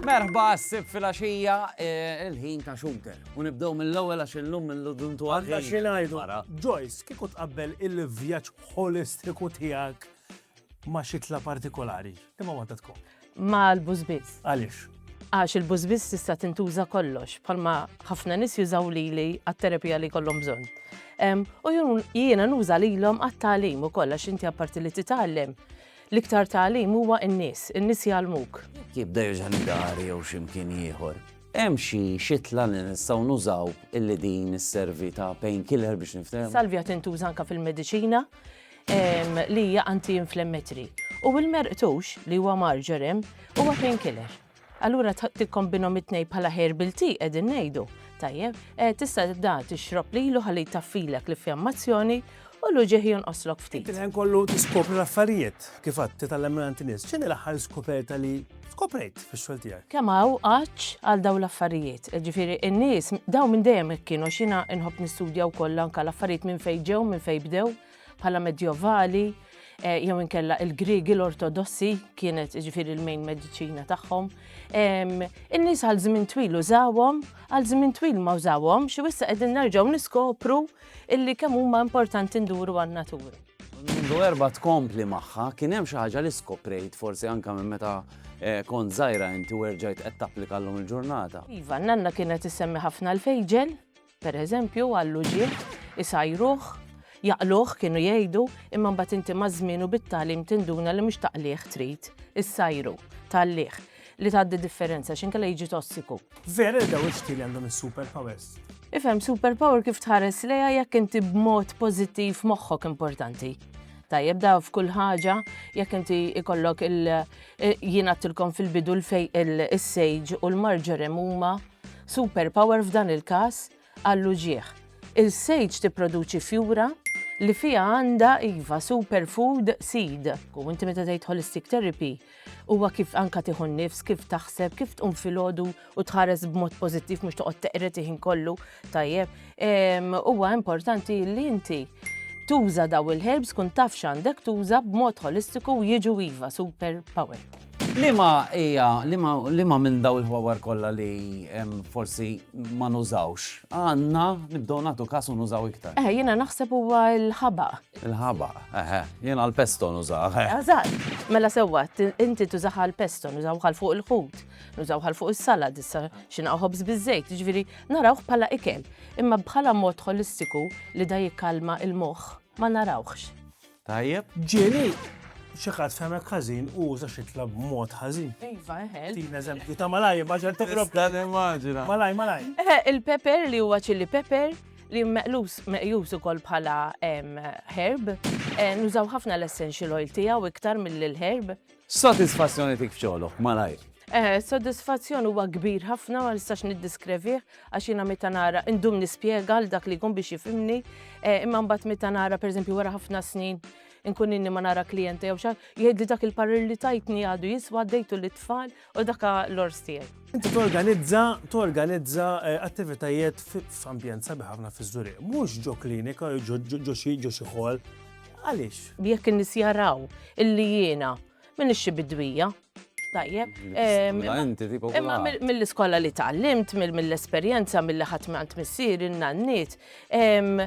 Merħba s-sib fil-axija eh, il-ħin ta' xunter. Unibdow mill-ewel għax il-lum mill-lum tu għadda xinajdu. Joyce, kiku tqabbel il-vjaċ holistiku tijak ma xitla partikolari, imma ma tkun. mal-bużbiż. Għaliex? Għax il-bużbiż tista' tintuża kollox, bħalma ħafna nies jużaw lili għat-terapija li jkollhom bżonn. U jiena nuża lilhom għat-tagħlim ukoll għax inti apparti li titgħallem, l-iktar tagħlim huwa n-nies, in-nies jgħallmuk. Jibda jerġa' l-dar jew x'imkien ieħor. Hemm xi xitla li nistgħu nużaw illi din isservi ta' painkiller biex niftehmu? Salvia tintuża anke fil-mediċina. li hija anti-inflammatory, u l-merqtux, li huwa marjoram, huwa pain killer. Allura tikkombinhom it-tnejn bħala herbal tea qegħdin ngħidu. Tajjeb, eh, tista' da tixrob lilu ħalli jtaffilek l-iffjammazzjoni u l-uġieħ jonqoslok ftit. Kien kollu tiskopri l-affarijiet kif għad titgħallem minn għand nies. X'inhi l-aħħar skoperta li skoprejt fix-xogħol tiegħek? Kemm hawn qaċċ għal dawn l-affarijiet. Ġifieri n-nies dawn minn dejjem kienu xina inħobb nistudja wkoll anke l-affarijiet minn fejn ġew, minn fejn bdew. bħala Medjovali eh, jew inkella il-Griegi l-Ortodossi kienet ġifiri l-main mediċina tagħhom. In-nies għal żmien twil użawhom, għal żmien twil ma użawhom, xi wissa qegħdin nerġgħu niskopru illi kemm huma importanti nduru għan-natura. Mundu erba tkompli magħha, kien hemm xi ħaġa li skoprejt forsi anke minn meta eh, kont żgħira inti werġajt qed tapplika llum il-ġurnata. Iva, nanna kienet issemmi ħafna l-fejġel, Per eżempju, għall-uġigħ, isajruh, jaqluh kienu jgħidu, imma mbagħad inti maż-żmien u bit-tagħlim tinduna li mhux taqligħ trid, issajru, tgħalligħ, li tgħaddi differenza x'inkella jiġi tossiku. Vera li dawn ix-xtieli għandhom is-superpowers? Ifhem superpower kif tħares lejha jekk inti b'mod pożittiv moħħok importanti. Tajjeb da f'kull ħaġa jekk inti ikollok il jien għattilkom fil-bidu l-sage u l-marġorem huma Super power f'dan il-każ għall-uġigħ. Il-sage tipproduċi fjura li fiha għandha iva super food seed. U inti meta tgħid holistic therapy huwa kif anka tieħu nifs, kif taħseb, kif tqum filgħodu u tħares b'mod pożittiv mhux toqgħod teqret iħin kollu tajjeb. Huwa importanti li inti tuża daw il-herbs kun taf x'għandek tuża b'mod holistiku jiġu iva super power. Liema hija, liema, liema minn daw il-ħwawar kollha li forsi ma nużawx, għandna nibdew nagħtu każ u nużaw iktar? Eħe, jiena naħseb huwa l-ħabaq. Il-ħabaq, eħe, jiena l-pesto nużah. Eżatt. Mela sewwa, inti tużaha l-pesto, nużawha l fuq il-ħut, nużawha l fuq is-salad, issa xinaqgħu ħobż biż-żejt, jiġifieri narawh bħala ikel. Imma bħala mod ħolistiku li da jikkalma l-moħħ ma narawhx. Tajjeb. Ġieli, xi ħadd fehmek ħażin u uża xi tlab b'mod ħażin. Iva, eħel. Tina eżempju ta' malaj, maġġel toqrob. Dan immaġina. Malaj, malaj. Eħe, il-pepper li huwa ċilli pepper li meqlus meqjus ukoll bħala herb, nużaw ħafna l-essential oil tiegħu iktar mill-herb. X'sodisfazzjoni tik f'xogħlok, malajr? Eħe, s-sodisfazzjon huwa kbir ħafna ma nistax niddiskrevih għax jiena meta nara indum nispjega għal dak li jkun biex jifhimni, eh, imma mbagħad meta nara pereżempju wara ħafna snin inkun inni ma nara klijenta jew xi jgħidli dak il-parir li tajtni għadu jiswa dejtu lit-tfal u dak l-ors tiegħi. Inti torganizza torganizza eh, attivitajiet f'ambjent sabiħ ħafna fiż-Żuriq, mhux ġo klinika jew ġo xi ħol Għaliex? Jekk in-nies jaraw illi jiena m'iniex xi bidwija, tajjeb. Ehm, imma mill-iskola li tgħallimt, mill-esperjenza, mill-li ħadd għand missier, in-nanniet, ehm,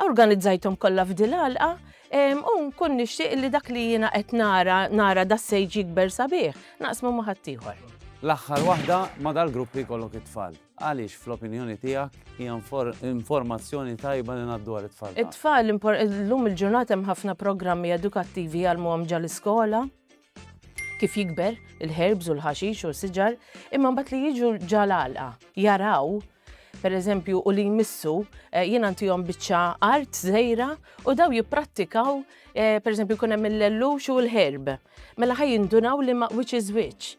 organizzajthom kollha f'dilalqa, ehm, u nkun nixtieq li dak li jiena qed nara nara da sejġ jikber sabiħ, naqsmu ma' ħaddieħor. L-aħħar waħda ma dal-gruppi kollok it-tfal. Għaliex fl-opinjoni tiegħek hija informazzjoni tajba li ngħaddu għal it-tfal? It-tfal llum il-ġurnata hemm ħafna programmi edukattivi jgħallmuhom ġal iskola kif jikber il-herbs u l-ħaxix u l-siġar, imma mbagħad li jiġu ġal għalqa, jaraw per eżempju, u li jmissu eh, jien għantijom biċċa art zejra u daw jipprattikaw eh, per eżempju, kunem il-lellux u l-herb. Mela ħaj jindunaw li ma' which is which.